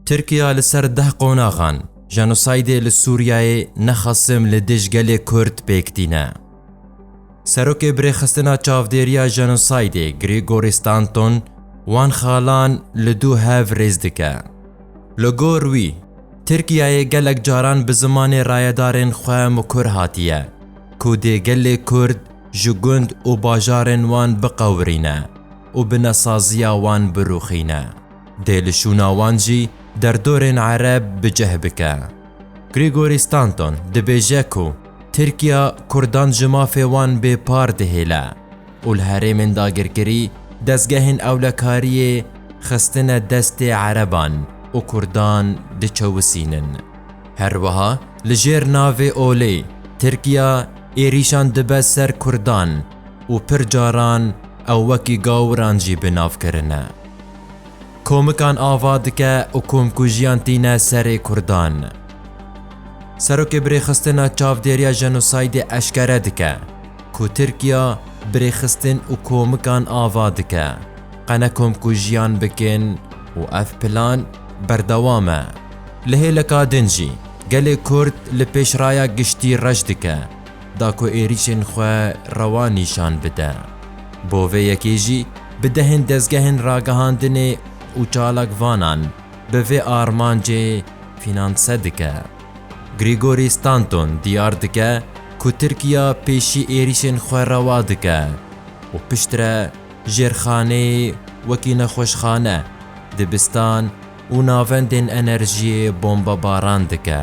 Tirkiya li ser deh qonaxan jenosaydê li Sûriyeyê ne xesim li dij gelê Kurd pêk tîne. Serokê Birêxistina Çavdêriya Jenosaydê Gregory Stanton wan xalan li du hev rêz dike. Li gor wî, Tirkiyeyê gelek caran bi zimanê rayedarên xwe mikur hatiye ku dê gelê Kurd ji gund û bajarên wan biqewirîne û bi nesaziya wan birûxîne. dê li şûna wan jî derdorên ereb bi cih bike. Gregory Stanton dibêje ku Tirkiya Kurdan ji mafê wan bê par dihêle û li herêmên dagirkirî dezgehên ewlekariyê xistine destê ereban û Kurdan diçewisînin. Her wiha li jêr navê olê Tirkiya êrîşan dibe ser Kurdan. û pir caran ew wekî gawiran jî bi nav kirine. Komikan ava dike û komkujiyan tîne serê Kurdan. Serokê Birêxistina Çavdêriya Jenosaydê eşkere dike ku Tirkiya birêxistin û komikan ava dike qene komkujiyan bikin û ev plan berdewam e. Li hêleka din jî gelê Kurd li pêşraya giştî reş dike. da ku êrîşên xwe rewa nîşan bide. Bo vê yekê jî bi dehên dezgehên ragihandinê û çalakvanan bi vê armancê fînanse dike. Grîgorî Stanton diyar dike ku Tirkiya pêşî êrîşên xwe rewa dike û piştre jêrxanê wekî nexweşxane, dibistan û navendên enerjiyê bombebaran dike.